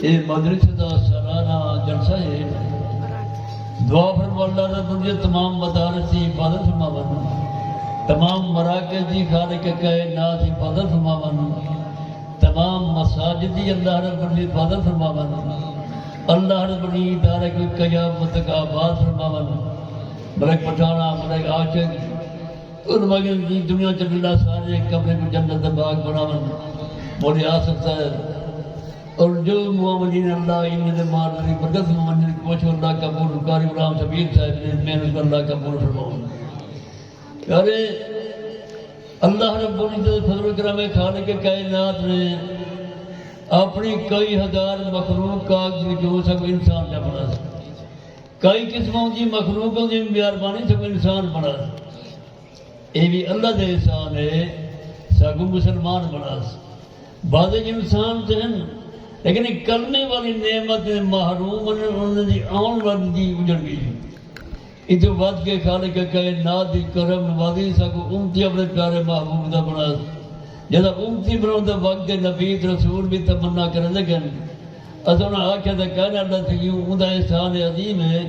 ایہ مدرسے دا سالانہ جلسہ ہے۔ دعا فرماؤ اللہ تعالی تجھے تمام مدارس دی حفاظت فرماون۔ تمام مراکز دی خالق کائنات حفاظت فرماون۔ تمام مساجد دی اللہ رب العزت حفاظت فرماون۔ اللہ رب العزت ادارہ کو قیامت تک آباد فرماون۔ ملک پٹھانہ، ملک عاشق۔ انہاں آکھیا جی دنیا وچ اللہ اساں آلے ہک کمرے کوں جنت دا باغ بناون مولے آ سکدا ہے اور جو معاونین اللہ انہاں دے معذری مدد سوں ونجن کوشوں اللہ قبول قاری غلام شبیر صاحب دی محنت کوں اللہ قبول فرماون پیارے اللہ رب العزت دے فضل و کرم ہے خالق کائنات نے اپنی کئی ہزار مخلوق کاغذ وچوں سب انسان دا بنا سی کئی قسماں دی مخلوقاں دی میاربانی ساکوں انسان بنڑاس۔ ایہ وی اللہ دے احسان ہے ساکوں مسلمان بنڑاس۔ بعضے انسان تاں ہن لیکن ایں کلمے والی نعمت دے محروم ہن انہاں دی آون والی دی اجڑ گئی ہے۔ ایتھوں ودھ کے خالق کائنات دی کرم نوازی ساکوں امتی اپنڑے پیارے محبوب دا بنڑاس۔ جیڑھا امتی بنڑن دا وقت ہے نبی تے رسول وی تمنا کریندے گھن۔ اساں انہاں آکھیا تے کائنات دا سگیوں اوندا احسان عظیم ہے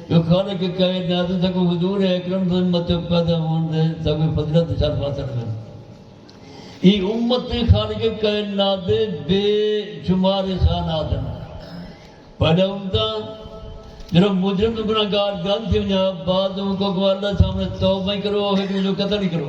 جو خالق کائنات ساکوں حضور اکرم دی امت وچ پیدا ہووݨ دے ساکوں فضیلت تے شرف حاصل ہوئے۔ ایہ امت تے خالق کائنات دے بے شمار احسانات ہن۔ پہلے امتاں جیڑھا مجرم تے گنہگار جان تھی ونڄا بعد حقوق اللہ سامݨے توبہ ای کرو ہک ݙوجھے کوں قتل ای کرو۔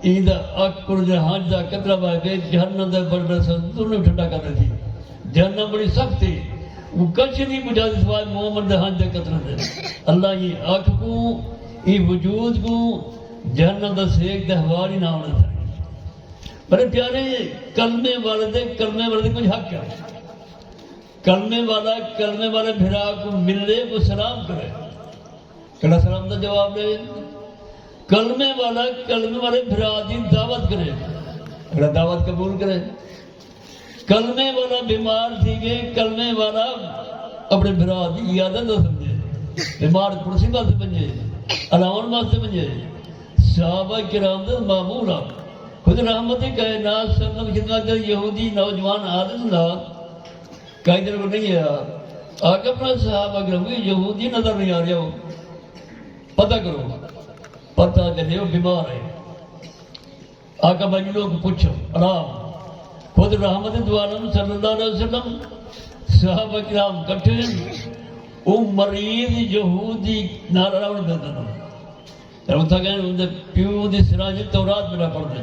ایں دا اک پرجے ہنج دا قطرہ بہہ کے جہنم دے بڑبڑے سمندر نوں وی ٹھنڈا کر ݙیسی۔ جہنم بڑی سخت ہے۔ اوہ کجھ نی بجھاندی سوائے مومن دے ہنج دے قطرے دے۔ اللہ ایں اکھ کوں، ایں وجود کوں، جہنم دا سیک تے ہوا نی نہ آوݨ ݙیسی۔ میݙے پیارے! کلمے والے دے کلمے والے دے کجھ حق ہن۔ کلمے والا کلمے والے بھرا کوں ملے، کوں سلام کرے۔ کیڑھا سلام دا جواب ڈے کلمے والا کلمے والے بھرا دی دعوت کرے کیڑا دعوت قبول کرے کلمے والا بیمار تھی گئے کلمے والا اپنے بھرا دی عیادت نہ سمجھے بیمار کرسی واسطے بنجے الاون واسطے بنجے صحابہ کرام دے معمول آپ خود رحمت کائنات سلم خدمت یہودی نوجوان عادت نہ کہیں تیرے کو نہیں آیا آقا اپنا صحابہ اگر ہوئی یہودی نظر نہیں آ رہا ہو پتہ کرو پتہ جلے ہو بیمار ہے آقا بھائی لوگ پوچھو آرام خود رحمت دوارم صلی اللہ علیہ وسلم صحابہ کرام کٹھے ہیں او مریض یہودی نال راون دے دن رہتا گئے ان دے پیو دی سراج تورات میرا پڑھ دے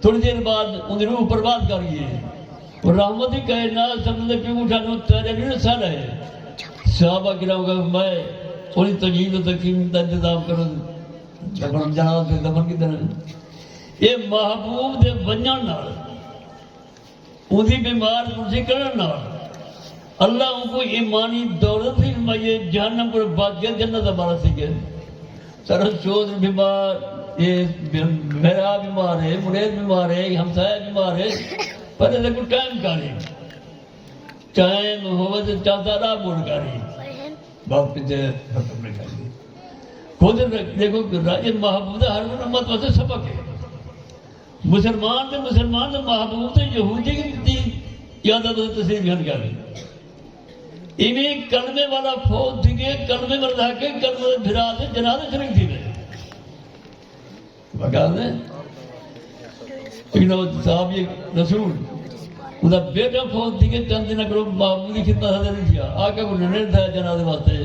تھوڑی دیر بعد اوندی روح پرواز کر گئی ہے۔ اور رحمت دی کہے نال سب نے پیوں اٹھا نو تیرے بھی نہ سارا ہے۔ صحابہ کرام کا فرمائے اوندی تجہیز و تکفین دا انتظام کرو دے۔ دفن جنازہ دے دفن کیتے نے۔ اے محبوب دے ونجن نال۔ اوندی بیمار کرسی کرݨ نال اللہ اونکوں ایمانی دولت وی ݙمائیے، جہنم کولھ بچ ڳئے، جنت دا وارث تھی ڳئے۔ سارا چودھری بیمار اے، بھرا بیمار اے، مڑیس بیمار اے، ہمسایہ بیمار اے، پر ایندے کوں ٹائم کائنی۔ ٹائم ہووے تاں چاتا راہ موڑ کائنی۔ بس کیتے ختم نئیں کائنی۔ خود ݙیکھو کہ راجہ محبوب دا ہر کوں امت واسطے سبق اے۔ مسلمان تے مسلمان دے محبوب تے یہودی دی قیادت و تسلیم جان کر دی ایمی کلمے والا فوت تھی گئے کلمے والا لے کے کلمے دے بھرا دے جناب شریف تھی گئے بگا دے اینا صاحب یہ رسول انہا بیٹا فوت تھی گئے چند دن اگر محبوب دی خدمت حضر نہیں تھیا آقا کو ننیر تھا جناب دے واسطے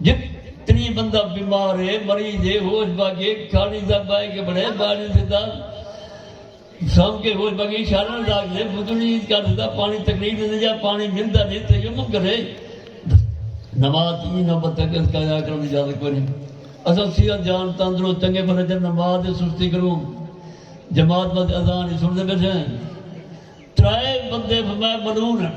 جتنی بندہ بیمار ہے، مریض ہے، ہوش بھا گئے، کھاڑی دا بائے کے بڑے باریں دے داد سم کے ہوش بھا گئے، شارن راگ دے بدنی عید کر دے دا پانی تکلیف دے دے جا پانی مل دا دے تے یمم کرے۔ نماز دی ایں نوبت تک اس کا جا کرن دی اجازت کوئی نہیں۔ اساں صحت جان تندرست چنگے بھلے جن نماز دے سستی کروں جماعت بس اذان ہی سن دے بیٹھے ہیں۔ ترائے بندے فرمائے ملون ہیں۔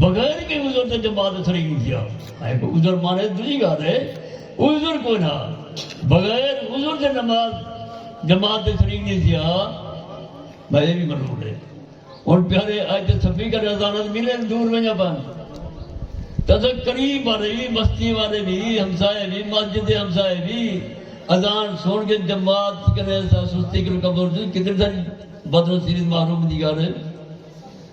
بغیر کہیں عذر دے جماعت اچ نہیں تھیا۔ ہائے کوئی عذر مانے تے ڈوجھی گالھ ہے کوئی عذر کوئی نہ بغیر عذر دے نماز جماعت اچ نہیں نہیں تھیا۔ بھائی اے وی منظور ہے۔ ہن پیارے اج تے سپیکر اذان اچ ملن دور ونجا پن تاں اساں قریب والے وی بستی والے وی ہمسائے وی مسجد دے ہمسائے وی اذان سن کے جماعت کنے سستی کر کمزور کتنی ساری بدنصیبی تے محرومی دی گالھ ہے۔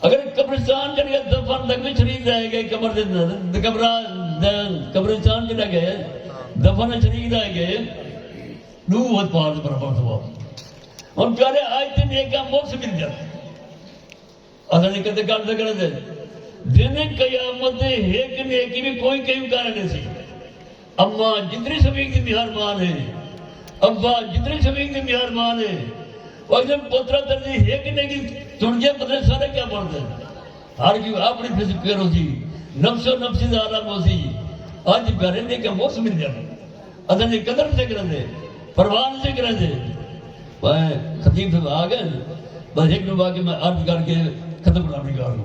اگر اے قبرستان جیڑھے ہے دفن تک وچ شریک رہ گئے قبر دے تے قبرا دے قبرستان جیڑھا گئے ہے دفن وچ شریک رہ گئے ڈو وت پار دے برابر ثواب ہن پیارے آج تے نیکا مکس مل جا اساں نے کدے کر دے کر دے دن قیامت دے ایک نیکی بھی کوئی کہیں کر دے سی اماں جتنی سویں دی مہربان ہے۔ ابا جتنی سویں دی مہربان ہے۔ اکھدن پوترا تیرے دی ہک نیکی تݨ جے پتہ نہیں سارے کیا بݨدن۔ ہر کیوں آپݨی فس پیر ہوسی۔ نفس و نفسی دا عالم ہوسی۔ اڄ پیارے نیکیاں مفت ملدن۔ اساں دی قدر نہ تھے کریندے۔ پرواہ نہ تھے کریندے۔ بھائیں خطیب صاحب آ ڳئن۔ بس ہک ݙو واقعہ میں عرض کر کے ختم کرݨا وی گاروں۔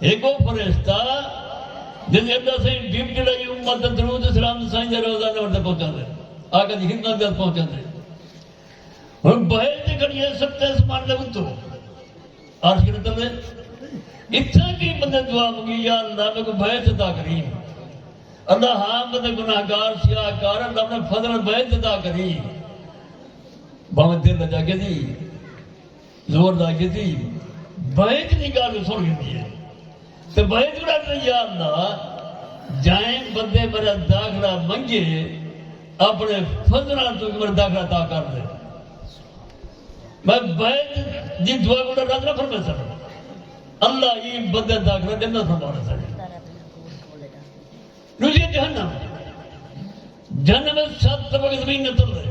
ہکو فرشتہ جس جی ادا سائیں ڈیپ جڑائی امت درود اسلام سائیں دے روزہ نور تے پہنچا دے آقا دی خدمت دے پہنچا دے ہن بہے تے کھڑی ہے سب تے اسمان دے اتو عرش کر دے اتھا کی بندے دعا مگی یا اللہ میں کو بہے تے تا کری اللہ ہاں بندے گناہ گار سیاہ کار اللہ میں فضل بہے تے تا کری باوے دل جا کے دی زور دا کیتی بینک دی گالھ سن گھدی ہے تے بینک دا تیار دا جائیں بندے میرا داخلہ منگے اپنے فضلہ تو میرا داخلہ تا کر دے میں بینک دی دعا کو رد نہ فرما سکتا اللہ یہ بندے داخلہ دے نہ فرما سکتا نو یہ جہنم جہنم سب طبق زمین نہ تل رہے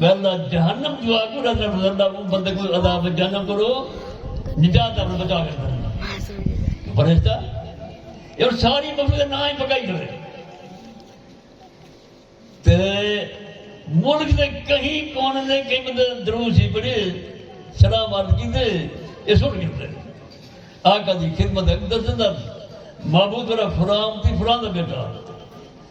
ویلدا جہنم جو آکو رہتا گزردا او بندے کو عذاب جہنم کرو نجات اپنے بچا کے کرنا فرشتہ یہ ساری مخلوق کے نام ہی پکائی کرے تے ملک دے کہیں کون نے کہیں بندے درو سی پڑے سلام عرض کی دے یہ سن کرتے آقا دی خدمت اندر زندہ محبوب را فرام تی فرام دا بیٹا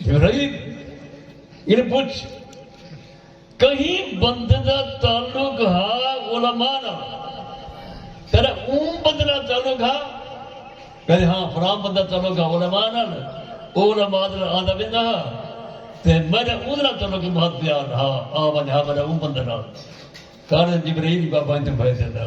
جرائد انہیں پوچھ کہیں بندے دا تعلق ہا علماء نا تیرا اون بندے دا تعلق ہا کہتے ہاں فلاں بندہ تعلق ہا علماء نا او علماء دا آدھا بندہ ہا تے میرا اون دا تعلق بہت پیار ہا آ ونجا میرا اون بندے دا کارے جبرائیل بابا انہیں بھائی دے دا